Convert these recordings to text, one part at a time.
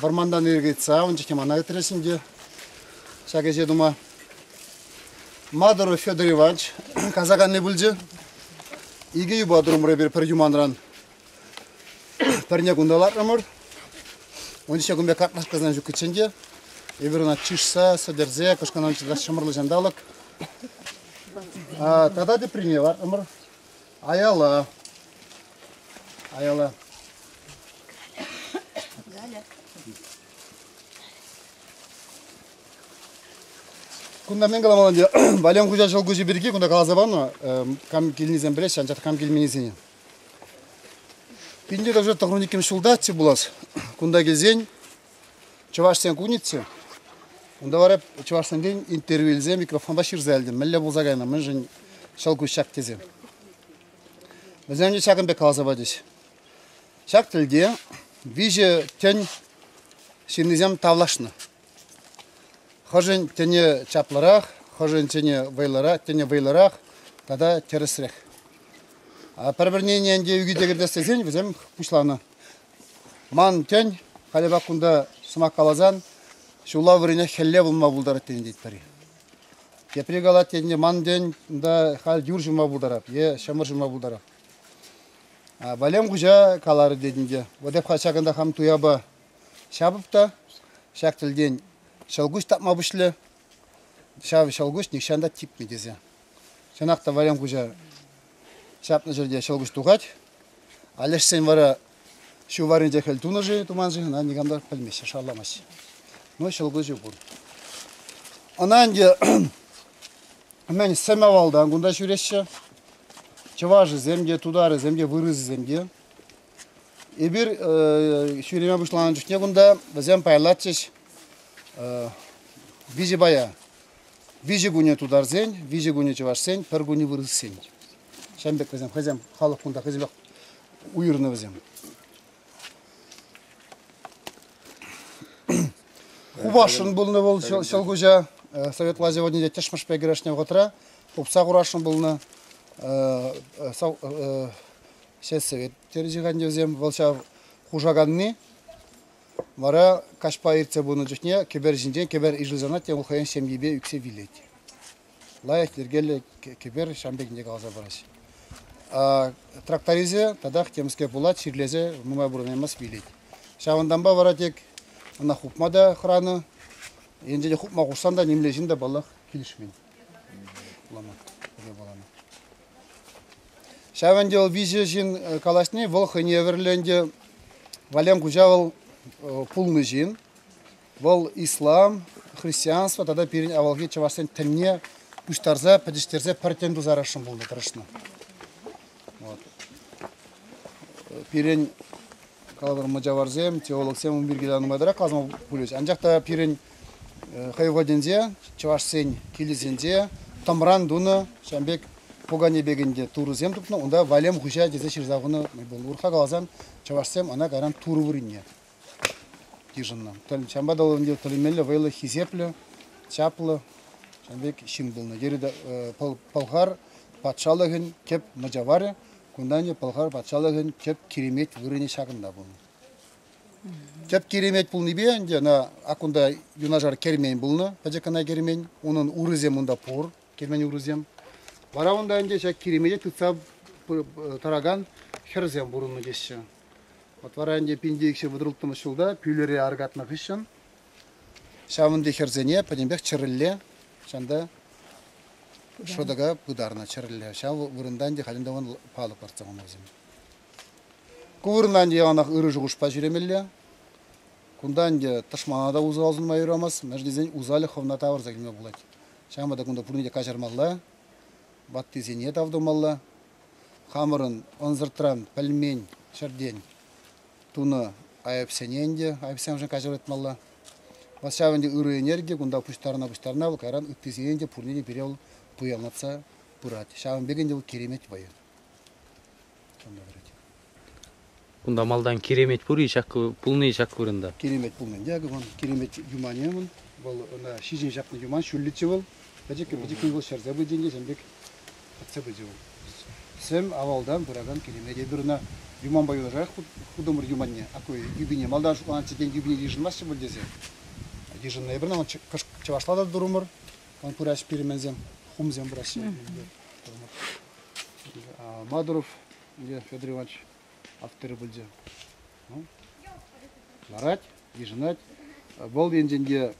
Вӑрмантан ирӗк ыйтса ун чухне мана ыйтрӗҫ ӗнтӗ ҫак ӗҫе тума. Мадуров Федор Иванович касаканни пулчӗ. Икӗ юпа турӑмӑр эпир пӗр юманран. Пӗрне кунта лартрӑмӑр. Ун ҫине кун пек картлашкасем ҫуккиччен те эпир ӑна чышса, сӗтӗрсе, кӑшкӑнан чӑтас ҫӑмӑрлӑ ҫанталӑк. А, тата теприне лартрӑмӑр. Аяла. Аяла. Галя. Кунта мен каламан ӗнтӗ, Валем хуҫа ҫӑлкуҫӗ пирки кунта каласа панӑ, кам килнисем пӗлеҫҫӗ, анчах кам килменисене. Пинте даже тӑхрун иккӗмӗш ҫултаччӗ пулас. Кунта килсен Чӑвашсен кунӗччӗ. Унта вара чӑвашсенчен интервью илсе микрофонта ҫырса илтӗм. Мӗнле пулса кайнӑ, мӗншӗн ҫӑл куҫ ҫак тесе. Вӗсем ӗнтӗ ҫакӑн пек каласа пачӗҫ. Ҫак тӗлте виҫӗ тӗн ҫыннисем тавлашнӑ. Хӑшӗн тӗнӗ чаплӑрах, хӑшӗн тӗнӗ вӑйлӑрах, тӗнӗ вӑйлӑрах тата тӗрӗсрех. Пӗр-пӗрне ӗнтӗ ӳкӗте кӗртес тесен вӗсем пуҫланӑ. Ман тен, халӗпе кунта сӑмах каласан ҫулла вӗренех хӗлле пулма пултарать тенӗ тетпӗр-и. Тепри калать тенӗ, ман тен, унта халь юр ҫума пултарать е ҫӑмӑр ҫума пултарать. Валем хуҫа каларӗ тетӗн те, вот эп ҫакӑнта хам туяпа ҫапӑп та ҫак тӗлтен ҫӑлкуҫ тапма пуҫлӗ. Ҫав ҫӑлкуҫ нихҫан та типмӗ тесе. Чӑнах та Валем хуҫа Ҫапнӑ ҫӗрте ҫӑлкуҫ тухать. Алешсен вара ҫу варринче хӗл тунӑ-ши, туман-ши, ӑна никам та пӗлмест, шарламасть. Ну, ҫӑлкуҫӗ пур. Ӑна ӗнтӗ мӗн сӗм авалтан кунта ҫӳреҫҫӗ. Чӑвашӗсем те, тутарӗсем те, вырӑсӗсем те. Эпир ҫӳреме пуҫланӑ чухне кунта вӗсем пайлатчӗҫ виҫӗ пая. Виҫӗ кунӗ тутарсен, виҫӗ кунӗ чӑвашсен, пӗр кунӗ вырӑссен. Ҫавӑн пек вӗсем хӑйсем халӑх кунта хӑйсемпех уйӑрнӑ вӗсем. Хупасшӑн пулнӑ вӑл ҫӑлкуҫа. Э, Советла сегодня те тӗшмӗшпе кӗрешнӗ вӑхӑтра хупса хурасшӑн пулнӑ. Э, э, сельсовет терӗҫ вӗсем. Вӑл ҫав хушаканни. Вара каҫпа иртсе пынӑ чухне кӗпер ҫинчен кӗпер ишӗлсанах тем хӑйӗн ҫемйипе ӳксе вилет. Лайӑх йӗркеллӗ кӗпер ҫам пекинче каласа параҫ. Тракторисчӗ татах темскер пулать, чирлесе нумай пурӑнаймасть вилет. Ҫавӑнтанпа вара тек ӑна хупма та хӑранӑ. Енчен хупма хушсан та нимле ҫын та паллах килӗшмен. Вулама, пӗле вулама. Ҫав ӗнтӗ вӑл виҫӗ ҫын калаҫни, вӑл хӑйне евӗрлӗ ӗнтӗ. Валем Куҫа вӑл пулнӑ ҫын. Вӑл ислам, христианство тата пирӗн авалхи чӑвашсен тӗнне пуҫтарса, пӗтӗҫтерсе пӗр тӗн туса ярасшӑн пулнӑ, тӑрӑшнӑ. Пирӗн каладӑр мӑчаварсем, теологсем ун пирки нумай тӑрать каласа пулӗҫ. Анчах та пирӗн хӑйвӑтӗнче чӑвашсен килӗсенче тӑмран тунӑ ҫавӑн пек пукане пек ӗнтӗ турӑсем тупнӑ унта валем хуҫа тесе ҫырса хунӑ тупӑннӑ урӑхла каласан чӑвашсем ӑна кайран турӑ вырӑнне йышӑннӑ ҫавӑнпа та ӗнтӗ тӗлӗнмелле вӑйлӑ хисеплӗ чаплӑ ҫавӑн пек ҫын пулнӑ йӗрӗ пӑлхар патшалӑхӗн тӗп мӑчаварӗ кунта ӗнтӗ пӑлхар патшалӑхӗн тӗп киремет вырӑнӗ ҫакӑнта пулнӑ Тӗп киремет пулнипе ӗнтӗ ӑна акунта юнашар кермен пулнӑ, пӗчӗк кӑна кермен. Унӑн урисем унта пур, кермен урисем. Вара унта ӗнтӗ ҫак киремете тытса тӑракан хӗрсем пурӑннӑ теҫҫӗ. Вот вара ӗнтӗ пин деикҫе вӑтӑрӑлттӑмӗш ҫулта пӳлӗре аркатнӑ хыҫҫӑн ҫавӑн пек хӗрсене пӗтӗмпех чӗрӗлле ҫанта шӑтӑка пытарнӑ чӗрӗлле. Ҫав вырӑнта ӗнтӗ халӗ те палӑк лартса хунӑ вӗсем. Ку вырӑнта ӗнтӗ яланах ырӑ шухӑшпа ҫӳремелле. Кунта ӗнтӗ тӑшмана та усал сунма юрамасть, мӗншӗн тесен усалӗ хӑвна тавӑрса килме пулать. Ҫавӑнпа та кунта пурне те каҫармалла, ваттисене тав тумалла. Хамӑрӑн ӑнсӑртран пӗлмен ҫӗртен тунӑ айӑпсене ӗнтӗ айӑпсемшӗн каҫӑртмалла. Вӑл ҫав ӗнтӗ ырӑ энерги, кунта пуҫтарӑна-пуҫтарӑна вӑл кайран ыттисене те пурне те пире вӑл туянлатса пырать. Ҫавӑн пек ӗнтӗ вӑл киремет вӑйӗ. Ӑна вӗрет. Кунта малтан киремет пур-и ҫак пулни ҫак вырӑнта? Киремет пулнин те вӑл киремет юманӗ вӑл. Вӑл ӑна ҫиҫен ҫапнӑ юман ҫӳллӗччӗ вӑл. Пӗчӗккӗн-пӗчӗккӗн вӑл ҫӗрсе пычӗ ӗнтӗ ҫын пек пӑтса пычӗ вӑл. Сӗм авалтан пыракан киремет эпир ӑна юманпа юнашарах хутӑмӑр юманне. Акӑ юпине малтан шутланатчӗ тен юпине йышӑнмастчӗ пуль тесе. Йышӑннӑ эпир ӑна чӑвашла та турӑмӑр. Пыраҫ пирменсем, хумсем пыраҫҫӗ. Мадуров Илья Федор Иванович авторӗ пулчӗ. Ну, ларать, йышӑнать. Вӑл енчен те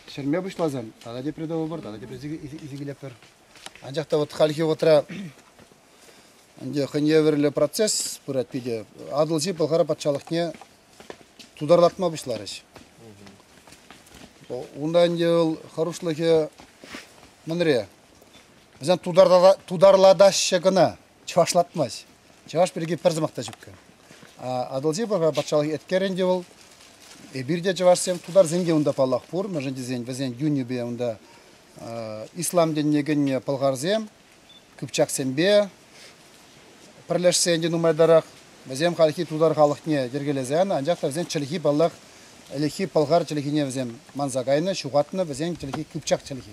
ҫӗрме пуҫласан тата тепре тӑвӑпӑр, тата тепре исе килетпӗр. Анчах та вот хальхи вӑхӑтра ӗнтӗ хӑйне евӗрлӗ процесс пырать питӗ. Атӑлҫи Пӑлхар патшалӑхне тутарлатма пуҫларӗҫ. Унта ӗнтӗ вӑл хӑрушлӑхӗ мӗнре? Вӗсем тутарлатаҫҫӗ кӑна, чӑвашлатмасть. Чӑваш пирки пӗр сӑмах та ҫук. Атӑлҫи патшалӑх эткерӗн те вӑл, эпир те чӑвашсем, тутарсен те унта паллах пур, мӗншӗн тесен вӗсен юнӗпе унта ислам динне кӗнӗ пӑлхарсем, кыпчаксемпе пӗрлешсен те нумайтарах, вӗсем хальхи тутар халӑхне йӗркелесен, анчах та вӗсен чӗлхи паллах, ӗлӗкхи пӑлхар чӗлхине вӗсем манса кайнӑ, ҫухатнӑ, вӗсен чӗлхи кыпчак чӗлхи.